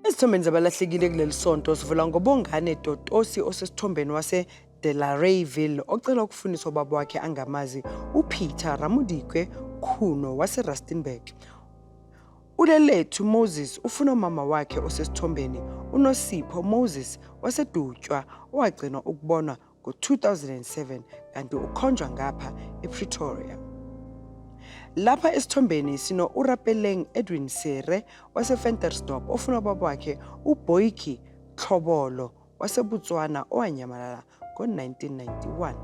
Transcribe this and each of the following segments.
Esithombeni zabalahlekile kuleli sonto sivula ngobongane Totosi osesithombeni wase de la Rayville ocela ukufundisa ubaba wakhe angamazi uPeter Ramudikwe Khuno waseRustenburg. Ulelethu Moses ufuna umama wakhe osesithombeni uNosipho Moses waseDutywa owagcinwa ukubonwa ngo-2007 kanti ukhonjwa ngapha ePretoria. Lapha esithombeni sino-Urapeleng Edwin Sere waseFentersdorp ofuna ubaba wakhe uBoiki Tlhobolo waseBotswana owanyamalala ngo-1991.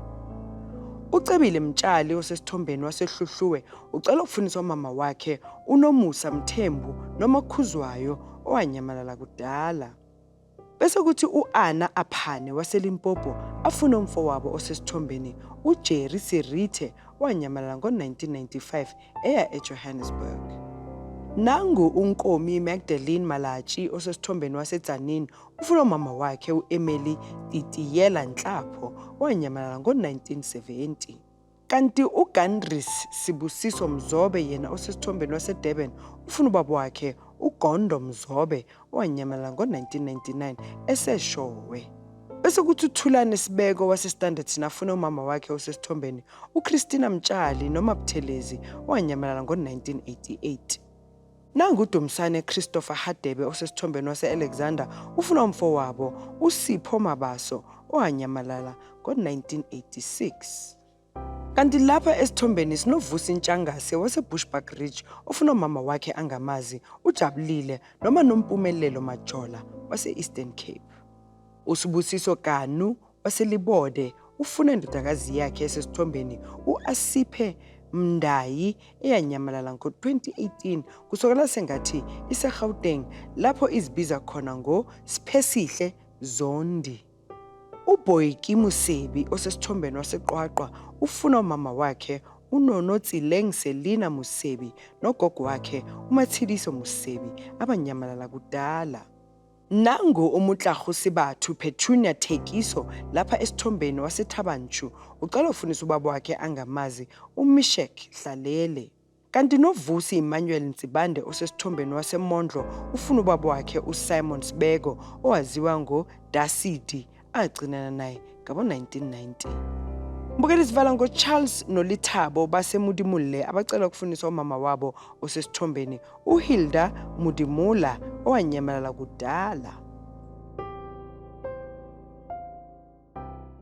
UCebile Mtshali osesithombeni waseHluhluwe ucela ukufundisa umama wakhe uNomusa Mthembu noma Khuzwayo owanyamalala kudala. Bese kuthi u-Ana Aphane waseLimpopo afune umfowabo osesithombeni uJerry Serithe owanyamalala ngo-1995 eya eJohannesburg. Nangu uNkomi Magdalene Malatji osesithombeni waseTzaneen ufuna umama wakhe u-Emily Titiyela Nhlapho owanyamalala ngo-1970. Kanti uGandries Sibusiso Mzobe yena osesithombeni waseDurban ufuna ubaba wakhe uGondo Mzobe owanyamalala ngo-1999 eseshowe. Bese kuthi uThulane Sibeko waseStanderton afune umama wakhe osesithombeni uChristina Mtshali noma Buthelezi owanyamalala ngo-1988. Nangu uDumsane Christopher Hadebe osesithombeni wase-Alexander ufuna umfowabo uSipho Mabaso owanyamalala ngo-1986. Kanti lapha esithombeni sinoVusi Ntshangase waseBushbuck Ridge ofuna umama wakhe angamazi uJabulile noma Nompumelelo Majola wase-Eastern Cape. USibusiso Kanu waseLibode ufuna indodakazi yakhe esesithombeni u-Asiphe Mndayi eyanyamalala ngo-2018 kusokala sengathi iseGauteng lapho izibiza khona ngoSiphesihle Zondi. UBoyki Musebi osesithombeni waseQwaqwa ufuna umama wakhe uNono Tsileng Selina Musebi nogogo wakhe uMatshidiso Musebi abanyamalala kudala. Nangu uMutlarhusi Bathu, Petunia Thekiso, lapha esithombeni, waseThaba Nchu. Ucela ufunisa ubaba wakhe angamazi, uMisheck Hlalele. Kanti noVusi Emmanuel Ntsibande osesithombeni waseMondlo ufuna ubaba wakhe uSimon Sibeko owaziwa ngoDasidi agcinana naye ngabo-1990 mbukela isivala ngocharles nolithabo basemudimulle abacela ukufuniswa umama wabo osesithombeni uhilda mudimula owanyamalala kudala